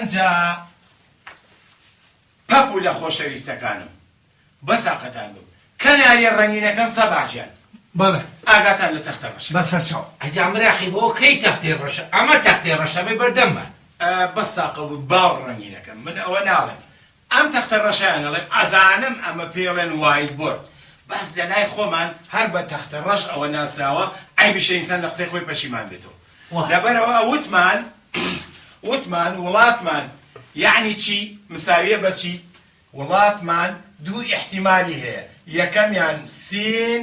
ئەنجا پەپ و لە خۆشەویستەکانم بەساقەتان بم کەناریە ڕەنگینەکەم سەباژیان بەڵێ ئاگاتان لە تەختە ڕەشە بەسەر چاو ئەجا مراقی بۆ کەی تەختەی ڕەشە ئەمە تەختەی ڕەشەمەی بەردەمە بەساقە بوو باڵ ڕەنگینەکەم من ئەوە ناڵێم ئەم تەختە ڕەشەیان ئەڵێم ئەزانم ئەمە پێی ئەڵێن وایت بۆرد بەس لەلای خۆمان هەر بە تەختە ڕەش ەوە ناسراوە عەیبیشە ئینسان لە قسەی خۆی پەشیمان بێتەوە لەبەرئەوە وتمان وتمان وڵاتمان یەعنی چی مساویە بە چی وڵاتمان دوو ئیحتیمالی هەیە یەکەمیان سین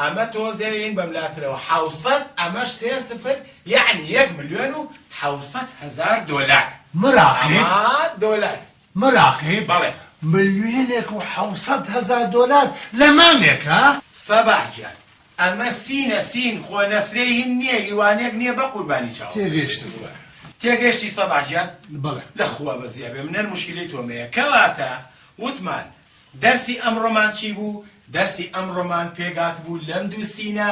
ئەمە تۆزێ ین بەم لاترەوە حەوسەت ئەمەش سێ سفر یەعنی یەک ملیۆن و حەوسەت هەزار دۆلار مراقیب ئەمە دۆلار مراقیب بەڵێ ملیۆنێک و حەوسەت هەزار دۆلار لە مانگێکا؟ سەباح گیان ئەمە سینە سین خۆ نەسرێ ین نیە یوانێک نیە بە قوربانی چاوم. تێگەیشتم برا. تێگەشتی سەباح گیان؟ بەڵێ. لە خوا بەزیابێ منەر موشکیلەی تۆمەیە کەواتە وتمان دەرسی ئەمڕۆمان چی بوو؟ دەرسی ئەمڕۆمان پێگات بوو لەم دوو سینە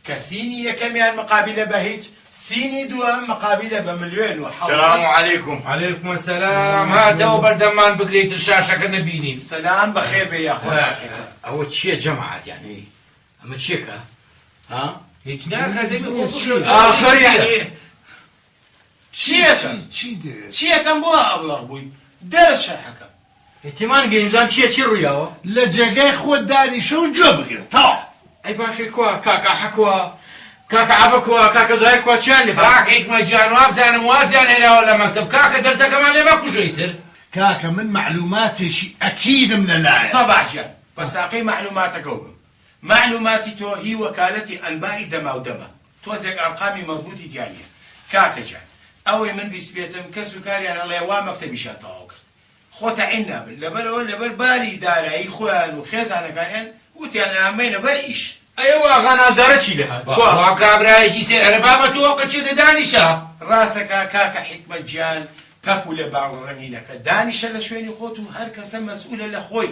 کە سینی یەکەمیان مقابلە بە هیچ سینی دووەم مقابلە بە ملوێن و حەوت. سلام علیکم. علیکم السلام هاتەوە بەردەممان بگرە ئیتر شاشەکە نەبینین. سلام بەخێر بێ یاخوا بەخێربێ. ئەوە چیە جەماعەت یانی ئەمە چیەکە ها؟ هیچ ناکا دەمی خۆ بگرە. ئاخر یانی. چیەکەم چیەکەم بۆ ئابڵەق بووی دەرە شەرحەکەم. تێمان گەی نزام چیە چی ڕویاوە. لە جێگای خۆت دانیشە و گوێ بگرە تەواو. ئەی باشە کوا کاک ئاحە کوا کاک عەبە کوا کاکە زاهیر کوا چیان لێ کاک حیکمە گیان وابزانم وازیان هێناوە لە مەکتەب کاکە دەرزەکەمان لێ مەکوژە ئیتر. کاکە من مەعلوماتێکی ئەکیدم لەلایە. سەباح گیان بەساقەی مەعلوماتەکەو بم مەعلوماتی تۆ هی وەکالەتی ئەنبائی دەماودەمە. تۆزێک ئارقامی مەزبوتی تیا نیە. کاکە گیان ئەوەی من بیستبێتم کەس و کاریان هەڵەیە وا مەکتەبیشیان تەواو کرد خۆ تەعین نابن لەبەرئەوە لەبەر باری دارایی خۆیان و خێزانەکانیان وتیان ئەیان بەینە بەر ئیش. ئەی ئەو ئاغا نازدارە چی لێهات؟ بوا وا کابرایەکی سێ ئەرە بابە تۆ ئەوقە چێتە دانیشە. ڕاستەکا کاکە حیکمەت گیان پەپولە باڵ ڕەنگینەکە دانیشە لە شوێنی خۆت و هەرکەسە مەسئولە لە خۆی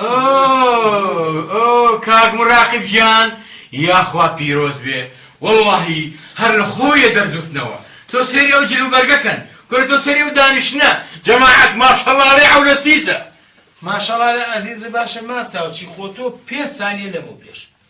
ئۆۆ ئۆۆ کاک مراقب گیان یاخوا پیرۆز بێ وەڵاهی هەر لە خۆیە دەرزوتنەوە تۆ سەیری ئەو جل و بەرگە کەن کورە تۆ سەیری ئەو دانیشتنە جەماعەت ماشەڵا لەی عەولە سیسە. ماشەڵا لە ئەزیزە باشە ماستاوچی خۆ تۆ پێنج سانیە لەمەو پێش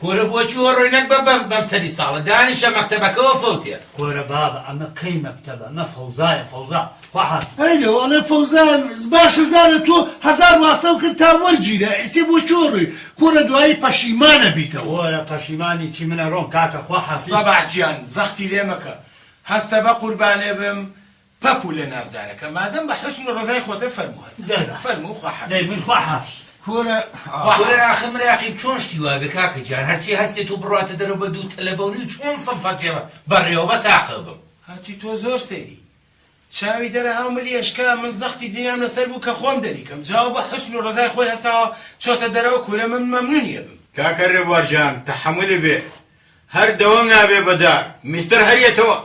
کورە بۆچی وەڕۆی نەک بە بەم بەم سەری ساڵە دانیشە مەکتەبەکەوە فەوتێ. کورە بابە ئەمە کەی مەکتەبە ئەمە فەوزایە فەوزا خواحافیز. ئەی لەو ئەڵێ فەوزایە باشە زارە تۆ هەزار واستەو کرد تا وەرگیرا ئیسێ بۆچی وەڕۆی کورە دوایی پەشیمان ئەبیتەوە. کورە پەشیمانی چی من ئەڕۆم کاکە خواحافیز. سەباح گیان زەختی لێ مەکە هەستە بە قوربانێ بم پەپولە نازدارەکە مادەم بە حوسن و ڕەزای خۆتە فەرموو هەست دەرباس فەرموو خوا حافیز. دەربین خوا حافیز. کورە ئاخ. کورە ئاخ مراقیب چۆن شتی وا بێ کاکە گیان هەرچی هەستێت و بڕواتە دەرەوە بە دوو تەلە بەونی و چۆن سڵ فەرچێ بە ڕێوە بە ساقە بم. هەتی تۆ زۆر سەیری چاوی دەرە هاو ملی ئەشکا من زەختی دنیام لەسەر بوو کە خۆم دەری کەم جاو بە حوسن و ڕەزای خۆی هەستاوە چۆتە دەرەوە کورە من مەمنونی ئەبم. کاکە ڕێبوار جان تەحەمولە بێ هەر دەوام نابێ بە دار. مستەر هەر یەتەوە.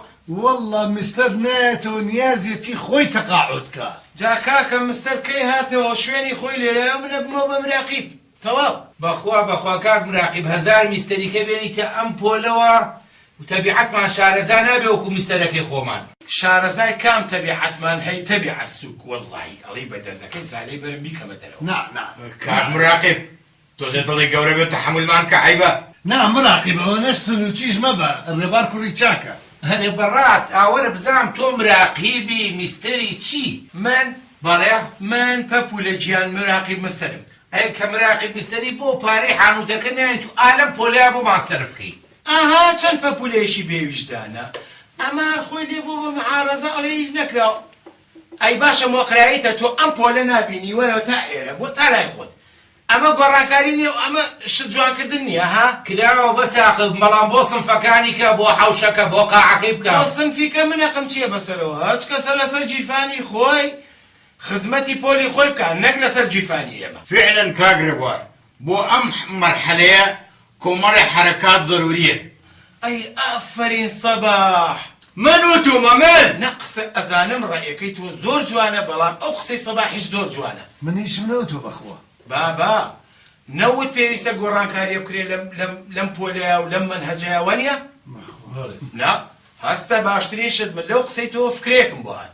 وەڵڵا مستەر نایەتەوە نیازیەتی خۆی تەقاعود کا. جا کاکە مستەر کەی هاتەوە شوێنی خۆی لێرایەو من ئەبمەوە بە مراقیب تەواو. بەخوا بەخوا کاک مراقیب هەزار میستەریکە بێنیتە ئەم پۆلەوە و تەبیعەتمان شارەزا نابێ وەکو میستەرەکەی خۆمان. شارەزای کام تەبیعەتمان هەی تەبیعەت سوک وەڵڵاهی ئەڵێی بە دەردەکەی سالەی بەرم بیکەمە دەرەوە. نا نا کاک مراقیب تۆزێ دڵی گەورە بێت تەحەمولمان بکە عەیبە. نا مراقیب ئەوەنەش تون و تیژ مەبە ڕێبار کوڕی چاکە. ئەرێ بەڕاست ئاوەرە بزانم تۆ مراقیبی میستەری چی؟ من؟ بەڵێ من پەپولە گیان مراقیب مستەرم ئەی کە مراقیب میستەری بۆ پارەی حانوتەکە نایەی تو ئا لەم پۆلەیا بۆمان سەرف کەی. ئەها چەند پەپولەیەکی بێ ویژدانە ئەمە هەر خۆی لێ بوە بە معارەزە ئەڵێ هیچ نەکراوە. ئەی باشە مۆقرایتە تۆ ئەم پۆلە نابینی وەرەوە تا ئێرە بۆ تا لای خۆت ئەمە گۆڕانکاری نیە و ئەمە شت جوان کردن نیە ها. کراوە بەس ئاقڵ بەڵام بۆ سنفەکانی کە بۆ حەوشەکە بۆ قاعەکەی بکە. بۆ سنفی کە من ئەقم چیە بەسەرەوە هەچ کەسە لەسەر گیرفانی خۆی خزمەتی پۆلی خۆی بکا نەک لەسەر گیرفانی ئێمە. فعلا کاک ڕێبوار بۆ ئەم مەرحەلەیە کۆمەڵێ حەرەکات زەروریەن. ئەی ئافەرین سەباح. من وتومە من. نە قسە ئەزانم ڕەئەکەی تۆ زۆر جوانە بەڵام ئەو قسەی سەباحیش زۆر جوانە. من هیچم نەوتوە بەخوا. بابە نەوت پێویستە گۆڕانکاریە بکرێ لەم لەم پۆلەیا و لەم مەنهەجەیا وانیە؟ بەخوا. نا هەستە باشترین شت من لەو قسەی تۆوە فکرەیەکم بۆ هات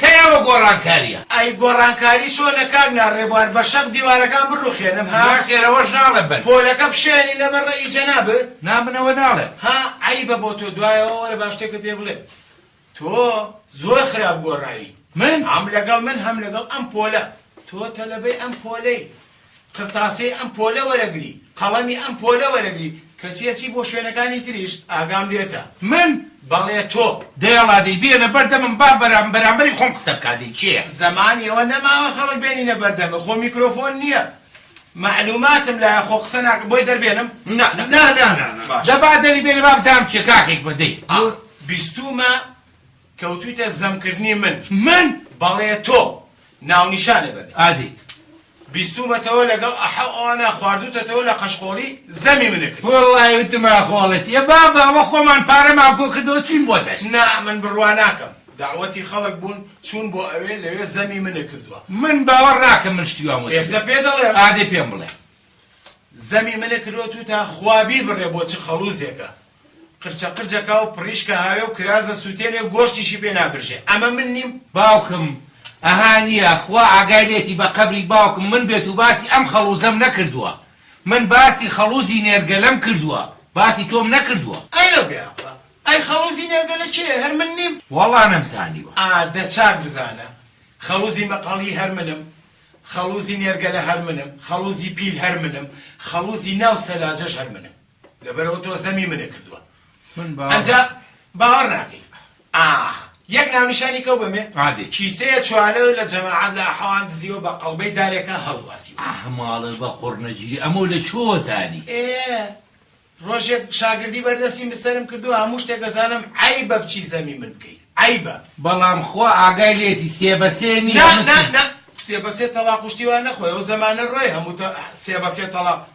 کەی ئەوە گۆڕانکاریە؟ ئەی گۆڕانکاری چۆنە کاک نا رێبوار بەشەق دیوارەکان بڕوخێنم ها؟ ناخێر ئەوەش ناڵێم بەل. پۆلەکە بشێنینە بەر ڕەئی جەنابت؟ نا من ئەوە ناڵێم. ها عەیبە بۆ تۆ دوایەوە وەرە با شتێکت پێ بڵێم تۆ زۆر خراپ گۆڕاوی. من؟ هەم لەگەڵ من هەم لەگەڵ ئەم پۆلە. تۆ تەلەبەی ئەم پۆلەی. قرتاسەی ئەم پۆلە وەرەگری، قەڵەمی ئەم پۆلە وەرەگری، کەچی ئەچی بۆ شوێنەکانی تریش، ئاگام لێتە. من، بەڵێ تۆ. دەیەڵا دەی بێنە بەر دەمم با بەرام بەرامبەری خۆم قسە بکا دەی کێیە. زەمان ئێوە نەماوە خەڵک بێنینە بەر دەمت، خۆ میکرۆفۆن نییە، مەعلووماتم لایە خۆ قسە ناکەم، بۆی دەربێنم؟ نا نا. نا نا نا نا. باشە. دە با دەری بێنە با بزانم کێ کاکێک بە دەی. ئا بیستوومە. کەوتویتە زەم کردنی من. من؟ بەڵێ تۆ. ناونیشانە بە بێ. ئادیت. بیستومەتەوە لەگەڵ ئەحە و ئەوانە خواردوتەتەوە لە قەشقۆڵی زەمی من ئەکرد. وەڵڵاهی وتم ئاخۆڵەتی. ئێ بابە ئەوە خۆمان پارەمان کۆ کردەوە چوین بۆ دەشت. نا من بڕوا ناکەم. دەعوەتی خەڵک بوون چوون بۆ ئەوێ لەوێ زەمی من ئەکردوە. من باوەڕ ناکەم من شتی وام وتبێ. ئێستا پێ دەڵێم. ئادێ پێم بڵێ. زەمی من ئەکردوە توتا خوا بیبڕێ بۆ چ خەڵوزێکە قرچە قرچ ئەکا و پڕیشک ئەهاوێ و کراس ئەسووتێنێ و گۆشتیشی پێ نابرژێ. ئەمە من نیم؟ باوکم، ئەها نییە، خوا ئاگای لێتی بە قەبری باوکم من بێت و باسی ئەم خەڵووزەم نەکردووە. من باسی خەڵووزی نێرگەلەم کردووە، باسی تۆم نەکردووە. ئەی لەو بێئەقڵە، ئەی خەڵووزی نێرگەلە کێیە، هەر من نیم؟ وەڵڵا نەمزانیوە. ئا، دە چاک بزانە، خەڵووزی مەقەڵی هەر منم، خەڵووزی نێرگەلە هەر منم، خەڵووزی پیل هەر منم، خەڵووزی ناو سەلاجەش هەر منم. لەبەرئەوە تۆ زەمی منە کردوە من باوە ئەجا باوەڕ ناکەی ئاه یەک ناونیشانی کەو بەمێ عادی کیسەیە چوانەوە لە جەماعەت لە حەوان دزیەوە بە قەڵبەی دارێکە هەڵواسی ئاه ماڵە بە قڕنەگیری ئەمە لە چۆ زانی ئێ ڕۆژێک شاگردی بەردەسی مستەرم کردو هەموو شتێک دەزانم عەیبە بچی زەمی من بکەی عەیبە بەڵام خوا ئاگای لێتی سێ بە سێ نییە نا نا نا سێ بە سێ تەڵاق وشتی وا نەخۆی ئەو زەمانە ڕۆی هەموو سێ بە سێ تەڵاق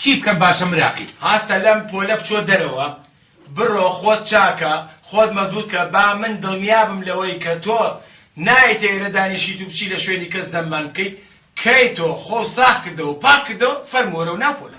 چی بکەم باشە مراقی. هەستە لەم پۆلە بچۆ دەرەوە بڕۆ خۆت چاکە خۆت مەزبوت کە با من دڵنیا بم لەوەی کە تۆ نایەیتە ئێرە دانیشیت و بچی لە شوێنی کەس زەممان بکەیت کەی تۆ خۆو ساخ کردەوە و پاک کردەوە فەرموو وەرەوە ناو پۆلە.